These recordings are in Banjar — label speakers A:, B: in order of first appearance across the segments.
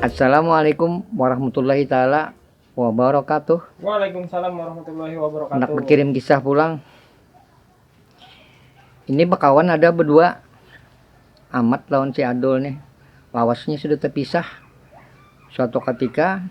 A: Assalamualaikum warahmatullahi taala wabarakatuh. Waalaikumsalam warahmatullahi wabarakatuh. Hendak berkirim kisah pulang. Ini bekawan ada berdua Amat lawan si Adul nih. Lawasnya sudah terpisah. Suatu ketika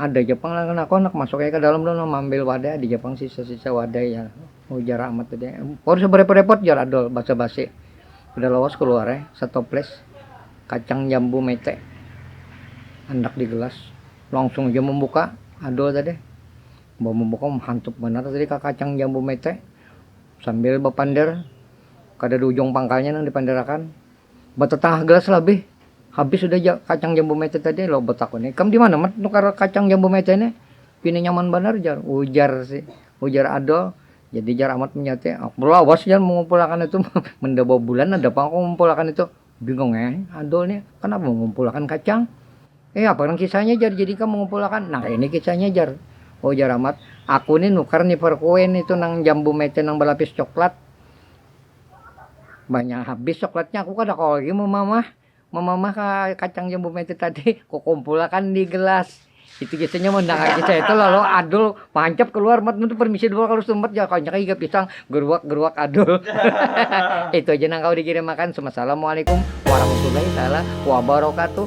A: Ada ja pang lain aku handak masuk ai ka dalam tu nah maambil wadai ada ja pang sisa-sisa wadai jar ujar Amat tadi. Kada usah barepot-repot jar Adul basa-basi. Kada lawas kaluar ai satoples kacang jambu mete handak di gelas. Langsung ja mambuka Adul tadi. Imbah mambuka mahantup banar tadi ka kacang jambu mete sambil bapander kadada ujung pangkalnya nang dipander akan. Batatangah gelas labih, habis sudah ja kacang jambu mete tadi, lalu batakuni, ikam di mana mat nukar kacang jambu mete ne, pina nyaman banar jar ujar si ujar Adol, jadi jar Amat menyauti, aku lawas jar mengumpulakan itu, menda babulan ada pang aku mengumpulakan itu, bingung ai Adol nih kenapa mengumpulakan kacang, eh apa nang kisahnya jar jadi ikam mengumpulakan, nah ini kisahnya jar, ujar Amat, aku nih nukar nipar kue nitu nang jambu mete nang balapis coklat. Banyak habis coklatnya, aku kada kawa lagi mamamah, mamamah kacang yang bume itu tadi, ku kumpulakan di gelas, itu biasanya mendangar kisah itu lalu adul mancap keluar mat itu permisi dulu kalu sumbat jar kanya kaya iga pisang, geruak geruak adul itu aja nang kawa dikirim akan, sumassalamualaikum warahmatullahi taala wabarakatuh.